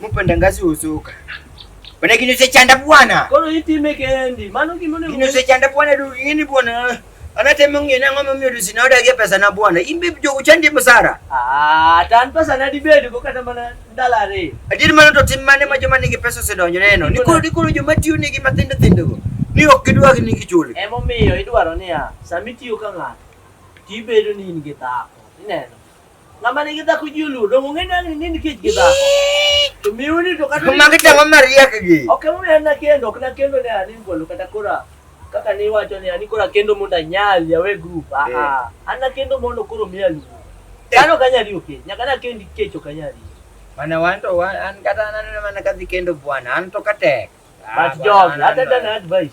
Mupanda ngazi uzuka. Bwana kino se chanda bwana. Kono itime kendi. Mano kimone. Kino se chanda bwana du yini bwana. Anatema ngene ngoma myodu sinoda ke pesa na bwana. Imbe bjo kuchandi musara. Ah, tan pesa na dibedi ko kata mana dalare. Adiri mano to timmane ma joma nigi pesa se donjo neno. Niko niko joma tiyo nigi matindo tindo go. Ni ok gidwa gi nigi chuli. Emo miyo idwaro niya, samitiyo ka ng'ato, tibedo ni in gi dhako. Ineno? Ng'ama nigi dhako ji oluwo dongo ng'e ni ang'ni nini kech gi dhako. To miu ni to kata ni. Magi tang'o mariek gi. Ok emo miyo na kendo, ok na kendo ne ani ngolo kata kora. Kaka ni wacho ni ani kora kendo mondo anyal ya we group. Ah eh. ah. An na kendo mondo koro miya lu. Eh. Kano kanya riyo ke. Nyaka na kendi kecho kanya riyo. Mana wan to wan an kata nan mana kadhi kendo bwana. An to katek. Ah, But job, hata dan advice.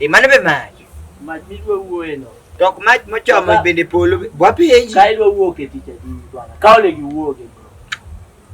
E mano be mach. Mach midwa wuoye no. Tok mach mochomo bende polo bwa penji. Ka idwa wuok e tich adi bwana. Ka ole gi wuok e.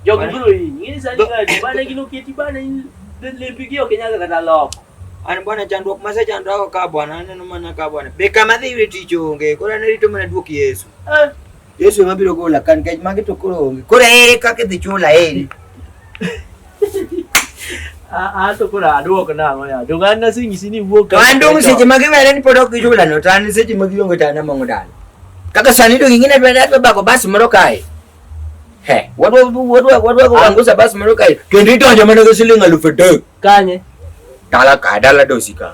Jogi bro yi. Ngini sani ngadi bana gino keti bana in lempi gi ok nyaga kata loko. An bwana chandruok ma sechandra ko ka bwana aneno mana ka bwana. Be kama dhi yudo tich onge. Koro an rito mana duok Yesu. Eh. Yesu ema biro gola kan kech magi to koro onge. Koro ere kaka idhi chula eri. A to koro aduok nang'o ya. Donge an nasenyisi ni wuok. To an dong seche ma giwere ni pod ok gichula no to an seche ma gionge to an among'o dala. Kaka sani dong ing'e ni adwa adwa bako bas moro kae. He, wadwa wadwa wadwa kuangusa bas moro kae. Kendo idonjo mana gi siling' alufu adek. Kanye? Dala ka dala dosi ka.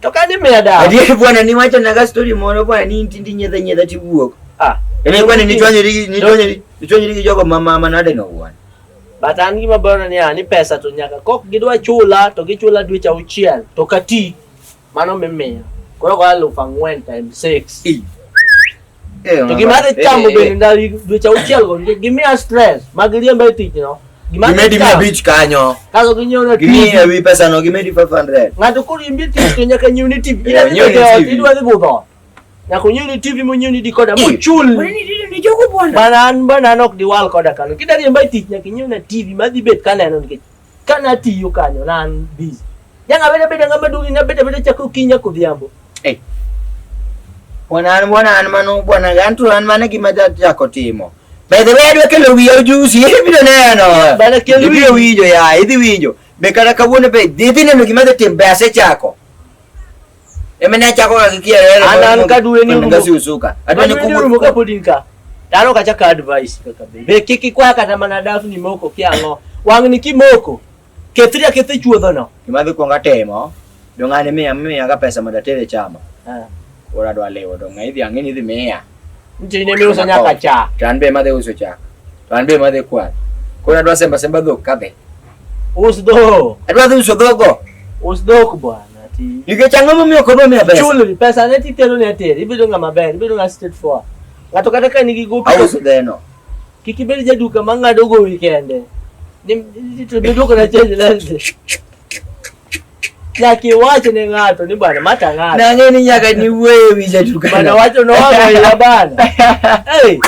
To ka ni mea dawa. Adier bwana ni wacho na ga story moro bwana ni inti ndi nyedha nyedha ti wuok. Ah. Ene bwana ni chwanye ri ni chwanye ri ni chwanye ri jogo mama mama nade no bwana. But an gima bwana ni ani pesa to nyaka kok gidwa chula to gichula dwe cha uchiel to kati mano mimea. Koro kwa lufa ngwen times 6. Eh, to gima adhi chamo eh, bende eh. ndalo dweche auchiel go nikech gimiya stress mag riemba e tich no gimedi mi abich kanyo kaso ginyiewo gimiye wi pesa no gimedi 500 ng'ato koriembi tich to nyaka nyiew ni tv idwa dhi budho nyaka onyiew ni tv monyiew ni dikoda mochul mana an bana an ok diwal koda kano kidwa riemba e tich nyaka inyiew na tv madhi bet kaneno nikech Ka natiyo kanyo ne an busy. Janga beda beda ng'ama duong' ina beda beda chako kinya kodhiambo. Eh. Bwana an bwana an mano bwana an to an mane gima jachako timo. By the way adwa kelo wiya ojusi ibiro neno. Bana kelo wiya. Ibiro winjo ya idhi winjo. Be kata kawuono be idhi neno gima dhi tim be asechako. Eme na chako ka kikia rero. Ana an ka duwe ni rumo. Ngasi usuka. Adwa ni kumu. Rumo ka podi nka. Daro ka chaka advice kaka be. Be kiki kwa kata mana dafu ni moko kia ngo. Wang ni ki moko. Kethri ya kethi chuodho no. Kima dhi kuonga temo. Dongani miya miya ka pesa mondo atere chama. Ah. Ora dwa lewo donga idhi ang'e ni dhi miya. Nchi ni miuso nyaka cha. Tanbe madhe uso cha. Tanbe madhe kwa. Kuna dwa semba semba dhok kadhe. Us dhok. Adwa dhi uso dhogo. Us dhok bwana. Nikech ang'o momiyo ok odwa miya pesa? Chulri pesa ne titero ne ateri. Ibedo ng'ama ber, ibedo ng'ama straight forward. Ng'ato kata ka nigi gopi. Auso dheno. Kik ibed jaduka ma ng'ado gowi kende. Ni to bedo kana change lens. Nyaki wacho ne ng'ato ni bana mata ng'ato. Nang'e ni nyaka ni wuoyo wi jatukana. Bana wacho no ya bana. Hey.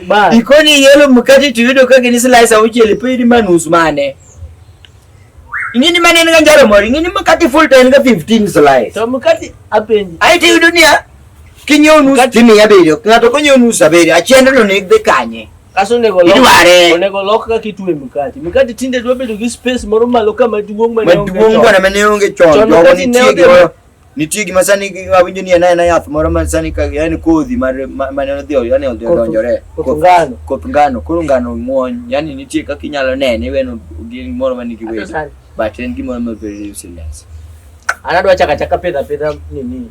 Bana. Ikoni yelo mkate tuyudo ka gini slice auchiel pidi manus mane. Ingini mane en ganjaro mori, ingini mkate full to en ga 15 slice. To mkate apenji. Ai tuyudo niya. Kinyo nus timi ya bedo. Ng'ato konyo nus abedo. Achiendno ni dhi kanye. Kaso onego lok- Idware. onego lok kaka itwe mkati. Mkati tinde dwa bedo gi space moro malo ka maduong' ma ne onge maduong' chon. bwana mane onge chon Chon jogo wakati ne nitie odhi- gimoro nitie gima sani gi- awinjo ni en aena yath moro ma sani ka en kodhi mar- ma- mane odhi yani odhi Koth- odonjore koth Koth- ngano. koth ngano koro ngano ng'wony yani nitie kaka inyalo nene iweno gimoro ma nigi wes Sani. but en gimoro ma very useless An adwa chaka chaka pidha pidha nini.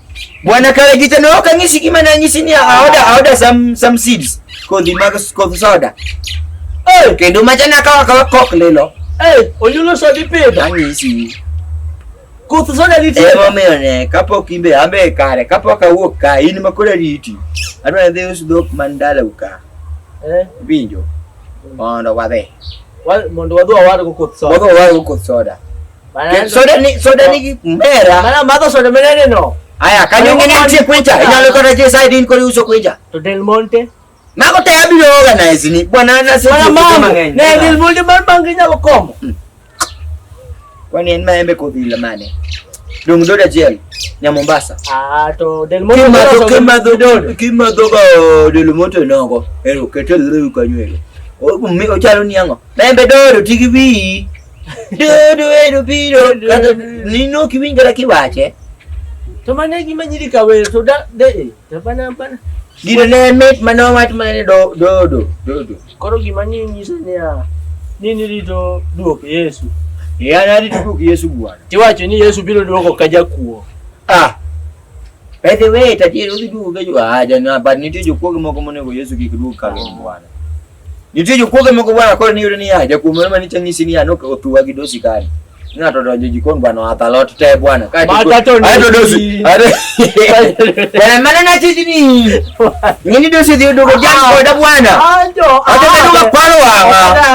Bwana kale kita no kangisi kima na ngisi ni aoda aoda some some seeds ko di magas ko soda. Eh, kendo machana ka ka kok lelo. Eh, onyulo so di pedo. Kangisi. Ko soda di ti. Emo me one kapo kimbe ambe kare kapo ka wuok ka in makore riti. Adwa dhi us dok mandala uka. Eh, binjo. Mondo wadhi. Mondo wadhi wadhi ko soda. Wadhi wadhi ko soda. Soda ni soda ni mera. Mana mato soda mera ni no. Aya kanyo ngene atie kwecha. Ina lo kota je side in kori uso kwecha. To Del Monte. Na ko te abiro organize ni. Bwana na se. Mana mama. Ne Del Monte mar bangi nyalo komo. Hmm. Kwani en maembe ko bila mane. Dong doda jel. Nya Mombasa. Ah to Del Monte. Kimadho kimadho dodo. Kimadho ba oh, Del Monte nogo. Ero ketel rewu kanyo ero. Omi ochalo niango. Maembe dodo tigi bii. Dodoero biro kata nino kiwinjore kiwache. To mane gima nyiri kawer to da de to bana bana. Gino ne mit mane owach mane do dodo dodo. Koro gima ni nyiso ni a nini rito duok Yesu. Ya na rito duok Yesu bwana. Tiwacho ni Yesu biro duoko ka jakuo. Ah. By the way, tatiyo uduoge jo aja na but nitie jokuoge moko monego Yesu kik duog ka bwana. Nitie jokuoge moko bwana koro niyudo ni ya jakuom moro mane chanyisi ni ya nok otuwa gi dosi kare. Ng'ato donjo jikon bwana watha lot te bwana. Kae Mata to ni- to dosi. Bwana mana na tiji ni. Ngini dosi dhi dogo jam koda bwana. Ajo. Ajo bedo ga kwaro wanga.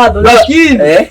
Ajo. Lakini. Eh?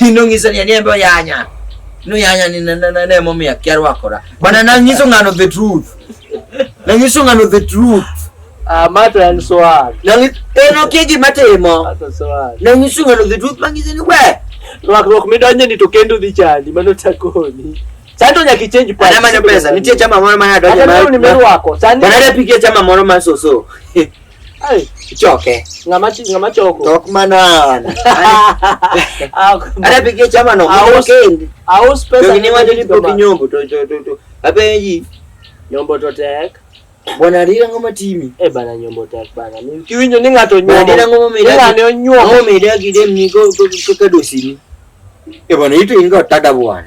Inong'isa ni anie bo yanya. No yanya ni na na ne momi akia rwakora. Bana na nyiso ngano the truth. Na nyiso ngano the truth. Ah, mato en swag. Na ngi- en okia gima timo. Mato swag. Na nyiso ngano the truth mang'ise ni we. Rwakruok midonje ni to kendo dhi chandi mano takoni. Sani nyaka ichenji pach. Anamanyo pesa. Nitie chama moro ma nadonje Hata ma. leo nimerwako. Sani Bana napigia chama moro ma soso. Ai, ichoke. Ng'ama chi- ng'ama choko. Tok mana an. Ah, Ana pigie chama no. Ah, Moro us- kendi. Aus pesa. Jogi ni wacho ni pok nyombo to to to to. Apenji. Nyombo to tek. Bwana rira ngoma timi. Eh bana nyombo tek bana. Ni- Kiwinjo ni ng'ato Bwana rira nyombo. ngoma Ni meda. ng'ane onyuomo. Ngoma meda gidem ni go go go kadosi ni. E bwana ito ingo tada bwana.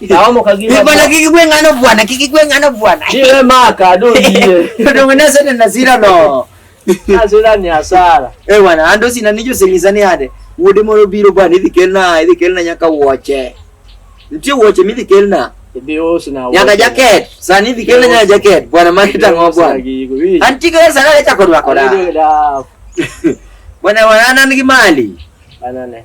Naomo kagima. Ni bwana kiki kwe ngano bwana, kiki kwe ngano bwana. Ni we maka do ndiye. Ndo ngana sana na zira no. Na zira ni asara. Eh bwana, ando sina nijo sengizani hade. Wode moro biro bwana, idhi kelna, idhi kelna nyaka woche. Ntie woche midhi kelna. Nyaka jaket, sani idhi kelna nyaka jaket. Bwana mani tango bwana. Anti kwe sana lecha kodwa koda. Bwana wana nigi mali. Bwana ne.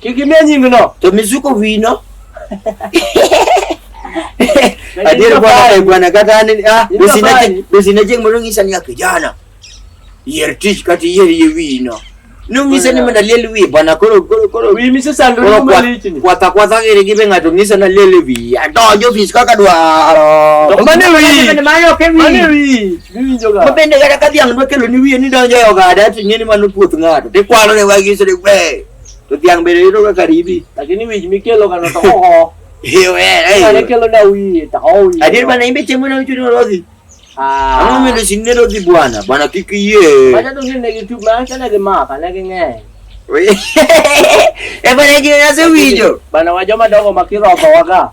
Kik imiya nyingno. To mizuko wino. Adier bwana eh, bwana kata an ah besina jeng mondo ng'isa ni kijana. Yier tich kata yier yie wino. Nung'ise ni mondo aliel wiye bwana koro koro koro. Wiyi mise sando ni malichni. Kwatha kwatha giri gibe ng'ato ng'ise na liel wiye. Adonjo ofis kaka dwaro. To mane wiyi. Mane ok wiyi. Mane wiyi. Miwinjo ga. Mabende kata ka dhiang' dwa kelo ni wiye ni donjo e ogada ting'e ni mano puoth ng'ato. Tikwalo ne wagi sore kwe. To dhiang' bende yudo ga karibi. Lakini wich mikelo kano to oho. Hiyo eh. Mane kelo na wiye to oho. Adier bana imbe chemo na uchuni olothi. Ah. Ang'o medo sinne lodhi bwana? Bwana kik yie. Bwana to ngine gi tube ma sana gi maka ne gi ng'eny. E bwana ji na se winjo. Bwana wa joma dongo makiroko waga.